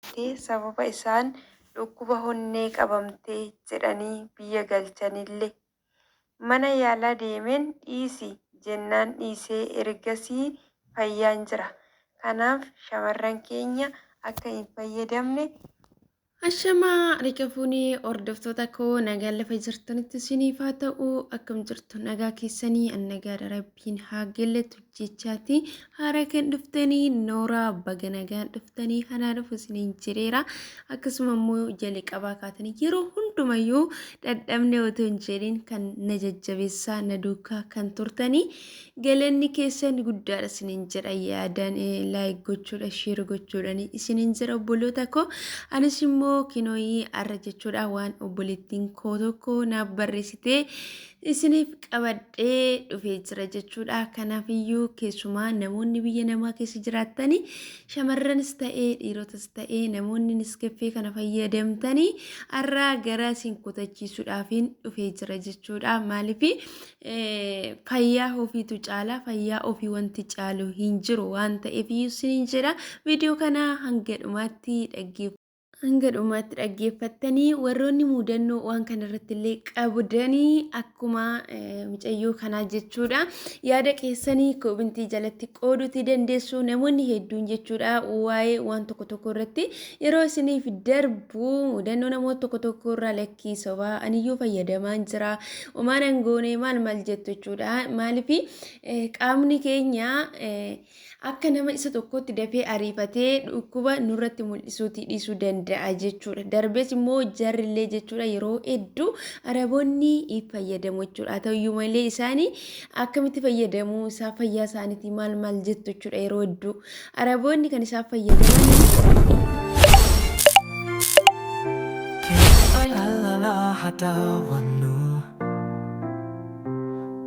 Tti sababa isaan dhukkuba honnee qabamte jedhanii biyya galchanille mana yaalaa deemeen dhiisi jennaan dhiisee ergasii fayyaan jira. Kanaaf shamarran keenya akka hin fayyadamne. Ashama harika fuune hordoftoota koo nagaan lafa jirtanitti isiniif haa ta'u akkam jirtu nagaa keessanii an nagaadha rabbi. Kin haagelle tujjechaati haara kan dhuftanii nooraa baga nagaan dhuftanii hanaa dhufu isiniin jireera akkasuma immoo jalqabaa kaatanii yeroo hundumayyuu dhadhabne otoo hin jedhin kan na jajjabeessaa na duukaa kan turtanii galanni keessan guddaadha isiniin jedha yaadaan laayik gochuudha sheer gochuudhaan isiniin jira obboloota koo anis immoo kinooyii arra jechuudha waan obboleettiin koo tokko naaf barreessitee isiniif qabadhee dhufee jira jechuudha. Kanaaf iyyuu keessumaa namoonni biyya namaa keessa jiraattanii shamarranis ta'ee dhiirotas ta'ee namoonni niskeffee kana fayyadamtanii har'aa gara isin kutachiisuudhaafiin dhufee jira jechuudha. Maaliif fayyaa ofiitu caalaa fayyaa ofii wanti caalu hin jiru waan ta'eef iyyuu isiniin jedha. Viidiyoo kana hanga dhumaatti dhaggeeffadhaa. Hanga dhumaatti dhaggeeffattanii warroonni muudannoo waan kanarratti illee qabdanii akkuma eh, mucayyoo kanaa jechuudha. Yaada keessanii koobintii jalatti qooduutii dandeessu namoonni hedduun jechuudha waa'ee waan tokko tokko irratti yeroo isiniif darbu muudannoo namoota tokko tokko irraa lakkii sobaa aniyyuu fayyadamaan jira omaan angoonee maal maal jettu jechuudha maaliif eh, qaamni keenya eh, akka nama isa tokkotti dafee ariifatee dhukkuba nurratti mul'isuutii dhiisuu danda'a jechuudha. Darbees immoo jarrillee jechuudha yeroo hedduu araboonni fayyadamu jechuudha. Haa ta'uyyuu malee isaanii akkamitti fayyadamu isaa fayyaa isaaniitii maal maal jettu jechuudha yeroo hedduu araboonni kan isaan fayyadaman. Ay, alala, hatawa.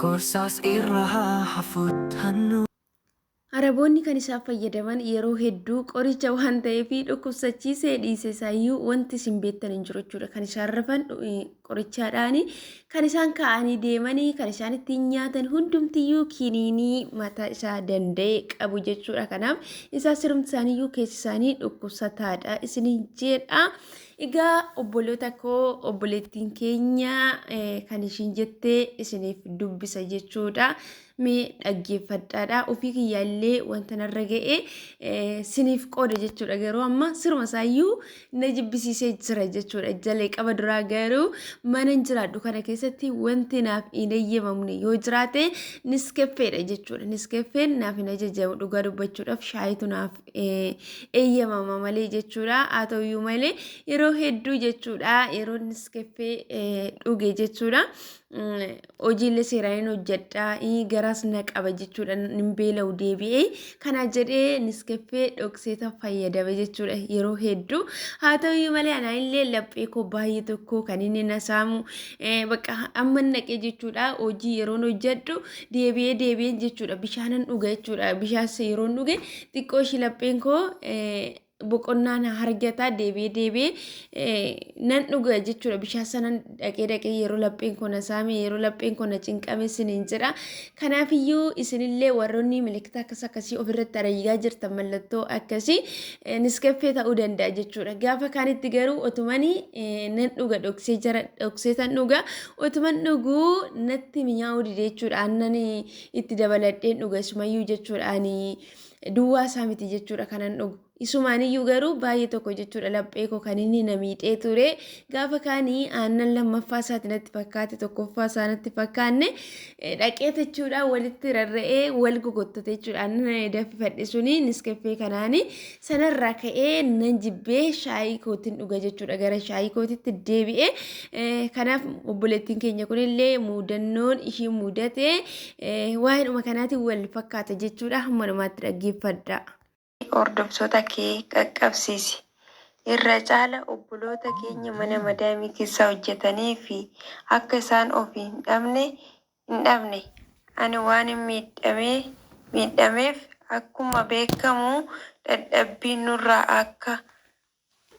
Gorsaas irra haa hafuttannu. Araboonni kan isaan fayyadaman yeroo hedduu qoricha waan ta'eef dhukkubsachiisee dhiise isaayyuu wanti isin beektan hin jiru jechuudha. Kan isaan rafan qorichaadhaani. Kan isaan kaa'anii deemanii kan isaan ittiin nyaatan hundumtiyyuu kiniinii mataa isaa danda'e qabu jechuudha. Kanaaf isaa sirumti isaaniiyyuu keessi isaanii dhukkubsataadha isiniin jedha. Egaa obboloota koo obboleettiin keenya kan ishiin jettee isiniif dubbisa jechuudha. Mee dhaggeeffadhaadha. Ofii kiyyaa illee wanta narra ga'e siniif qooda jechuudha. Garuu amma siruma isaayyuu na jibbisiisee jira jechuudha. Jalqaba duraa garuu mana hin jiraadhu kana keessatti wanti naaf hin eeyyamamne yoo jiraate niskeffeedha jechuudha. Niskeffeen naaf hin ajajamu dhugaa dubbachuudhaaf shaayitu naaf eeyyamama malee jechuudha. Haa ta'uyyuu malee yeroo hedduu jechuudha yeroo niskeffee dhuge jechuudha. Hojiilee seeraa hin hojjedha garaas na qaba jechuudha hin beela'u deebi'ee kana jedhee niskeffee dhokseeta fayyadame jechuudha yeroo hedduu. Haa ta'uyyuu malee anaa illee laphee koo baay'ee tokko kan inni na saamu bakka amma naqee jechuudha hojii yeroon hojjedhu deebi'ee deebi'een jechuudha bishaanan dhuga jechuudha bishaas yeroon dhuge. Xiqqoo ishii lapheen koo boqonnaa na harjataa deebi'ee deebi'ee nan dhuga jechuudha bishaan sana dhaqee dhaqee yeroo lapheen koo na saame yeroo lapheen koo na cinqame isiniin jedha kanaafiyyuu isinillee warroonni milikkita akkas akkasii ofirratti arayyaa jirtan mallattoo akkasii niskaffee ta'uu danda'a jechuudha gaafa kaanitti garuu otumani nan dhuga dhoksee jara dhoksee tan dhuga otuman dhuguu natti mi'aa'uu dide jechuudha aannan itti dabaladheen dhuga isumayyuu jechuudha ani duwwaa isaa miti jechuudha kanan dhugu isumaaniyyuu garuu baay'ee tokko jechuudha laphee koo kan inni na miixee ture gaafa kaanii aannan lammaffaa isaati natti fakkaate tokkoffaa isaa natti fakkaanne dhaqee jechuudha walitti rarra'ee wal gogottate jechuudha aannan dafifadhe suni niskeffee kanaani Sanarraa ka'ee nan jibbee shaayii kootiin dhuga jechuudha gara shaayii kootitti deebi'e. Eh, Kanaaf obboleettiin keenya kunillee muudannoon ishii mudate eh, waa'eedhuma kanaatiin wal fakkaata jechuudha hamma dhumaatti dhaggeeffadha. hordoftoota kee qaqqabsiisi. Irra caala obboloota keenya mana madaamii keessa hojjetanii fi akka isaan of hin dhabne hin dhabne. Ani waanin miidhamee miidhameef akkuma beekkamu dhadhabbii nurraa akka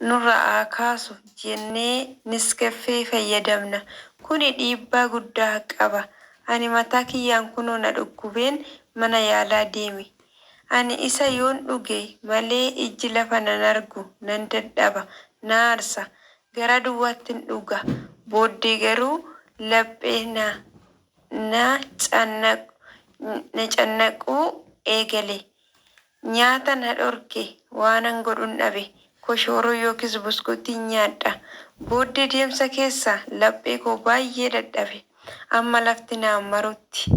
nurra haa kaasu jennee Niskeffee fayyadamna. Kuni dhiibbaa guddaa qaba. Ani mataa kiyyaan kunoo na dhukkubeen mana yaalaa deeme. Ani isa yoon dhuge malee ijji lafa nan argu nan dadhaba, na aarsa. Garaa duwwaattin dhuga. Booddee garuu laphee na na na cannaquu eegale. Nyaata na dhorke. Waanan godhun dhabe. Koshooroo yookiis buskuuttiin nyaadha. Booddee deemsa keessa laphee koo baay'ee dadhabe. Amma lafti naan marutti.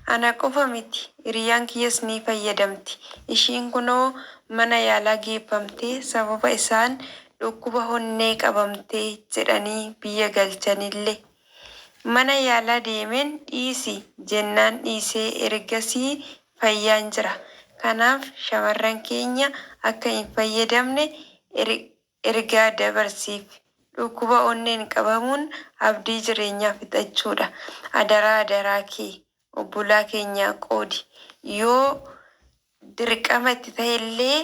Ana qofa miti hiriyyaan kiyyas ni fayyadamti. Ishiin kunoo mana yaalaa geeffamtee sababa isaan dhukkuba honnee qabamte jedhanii biyya galchanille. Mana yaalaa deemeen dhiisi jennaan dhiisee ergasii fayyaan jira. Kanaaf shamarran keenya akka hin fayyadamne ergaa ergaa dabarsiif. Dhukkuba onneen qabamuun abdii jireenyaa fixachuudha. Adaraa adaraa kee obbolaa keenyaa qoodi. Yoo dirqama itti tahellee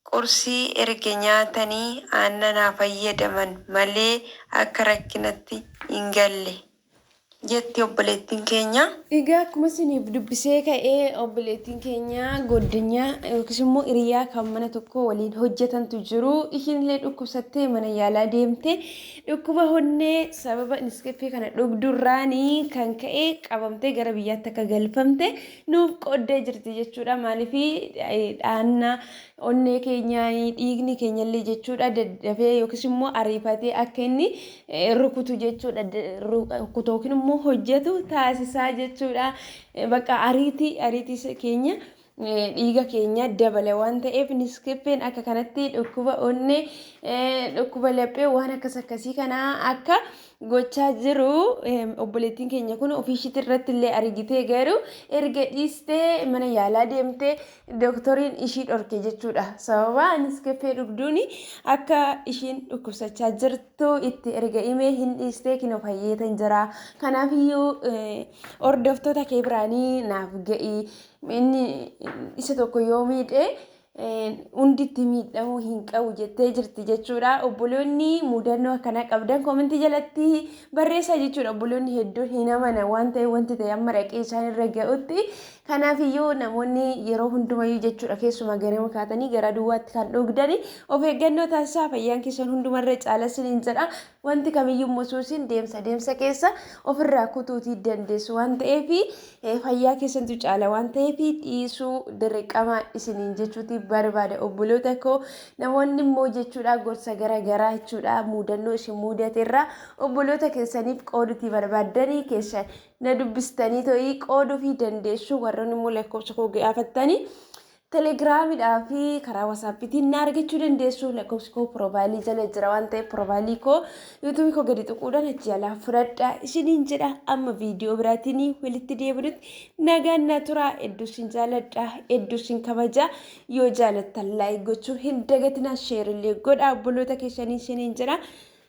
qursii erga nyaatanii aannan haa fayyadaman malee akka rakkinatti hin galle. jetti obboleettiin keenya. Egaa akkuma isiniif dubbisee ka'e obboleettiin keenya goddinya yookiis immoo hiriyaa kan mana tokko waliin hojjetantu jiru. Ishiin illee dhukkubsattee mana yaalaa deemte. Dhukkuba honnee sababa niskeffee kana dhugdurraanii kan ka'e qabamtee gara biyyaatti akka galfamte nuuf qooddee jirti jechuudha. Maaliif dhaanna onnee keenyaa dhiigni keenyallee jechuudha daddafee yookiis immoo ariifatee akka inni rukutu jechuudha rukutu yookiin immoo hojjetu taasisaa jechuudha bakka ariitii ariitii keenya dhiiga keenya dabala waan ta'eef niskippeen akka kanatti dhukkuba onnee dhukkuba laphee waan akkas akkasii kana akka gochaa jiru obboleettiin keenya kun ofiishiitti irratti illee argitee garuu erga dhiistee mana yaalaa deemtee Doktoriin ishii dhorke jechuudha. Sababa Niskeffee dhugduun akka ishiin dhukkubsachaa jirtu itti erga himee hin dhiistee kinoo fayyeetan jira. Kanaafiyyuu hordoftoota kee biraanii naaf ga'i. Inni isa tokko yoo miidhe hundi itti miidhamuu hin qabu jettee jirti jechuudha. Obboloonni mudannoo akkanaa qabdan koomentii jalatti barreessaa jechuudha. Obboloonni hedduun hin amanan waan ta'eef wanti ta'e amma dhaqee isaan irra ga'utti Kanaafiyyuu namoonni yeroo hundumayyuu jechuudha keessumaa garema kaatanii garaa duwwaatti kan dhugdani of eeggannoo taasisaa fayyaan keessan hundumarra caala siniin jedha wanti kamiyyuu immoo suusiin deemsa deemsa keessa ofirraa kutuutii dandeessu waan ta'eef fayyaa keessantu caala waan ta'eef dhiisuu dirqama isiniin jechuuti barbaada obboloota koo namoonni immoo jechuudha gorsa gara garaa jechuudha muudannoo isin muudateerraa obboloota keessaniif qooduutii barbaaddanii keessa na dubbistanii to'ii qooda ofii dandeessu warroonni immoo lakkoofsa koo gaafattanii telegiraamidhaa fi karaa wasaappitiin na argachuu dandeessu lakkoofsi koo piroofaayilii jala jira waan ta'eef piroofaayilii koo yuutuubii koo gadi tuquudhaan achi jalaa fudhadha isiniin jedha amma viidiyoo biraatiin walitti deebinutti nagaan na tura hedduu isin jaaladha hedduu isin kabaja yoo jaalattan laayik gochuu hin dagatinaa sheerillee godha obboloota keessanii isiniin jedha